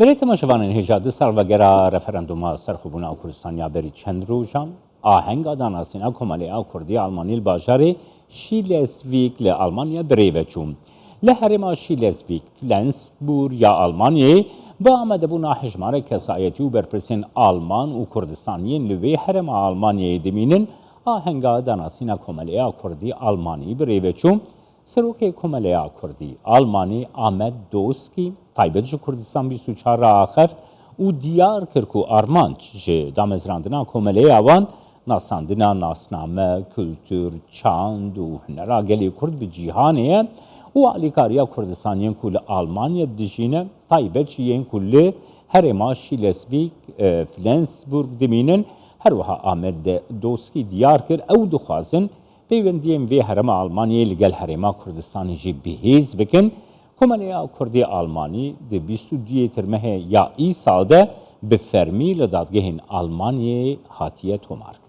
Berê temaşevanên hêja di sal vegera referenduma serxwebûna Kurdistanê ya berî çend rojan, ahenga danasîna Komelê a Kurdî ya Almanî li bajarê Şîlesvîg li Almanya bi rê ve çû. Li herêma Şîlesvîg, Flensbûr ya Almanyayê, bi amadebûna hejmarek kesayetî û berpirsên Alman û Kurdistan yên li wê herêma Almanyayê dimînin, ahenga danasîna Komelê a Kurdî Almanî bi rê ve çû, Serokê Komeleya Kurdî Almanî Ahmet Dozkî taybet ji Kurdistan bîst û çar re axeft û diyar kir ku armanc ji damezrandina komeleya wan nasandina nasname, kultur, çand û hunera gelê Kurd bi cîhanê ye û alîkariya Kurdistan yên ku li Almanya dijîne taybet jî yên ku li herêma Şîlesvîg, Flensburg dimînin. Herwiha Ahmet Dozkî diyar kir ew dixwazin Peywendiyên vê herêma Almanyayê li gel herêma Kurdistanê jî bihêz bikin, Komeleya Kurdê Almanî di bîst û duyê Tirmehê ya îsal de bi fermî li dadgehên Almanyayê hatiye tomarkirin.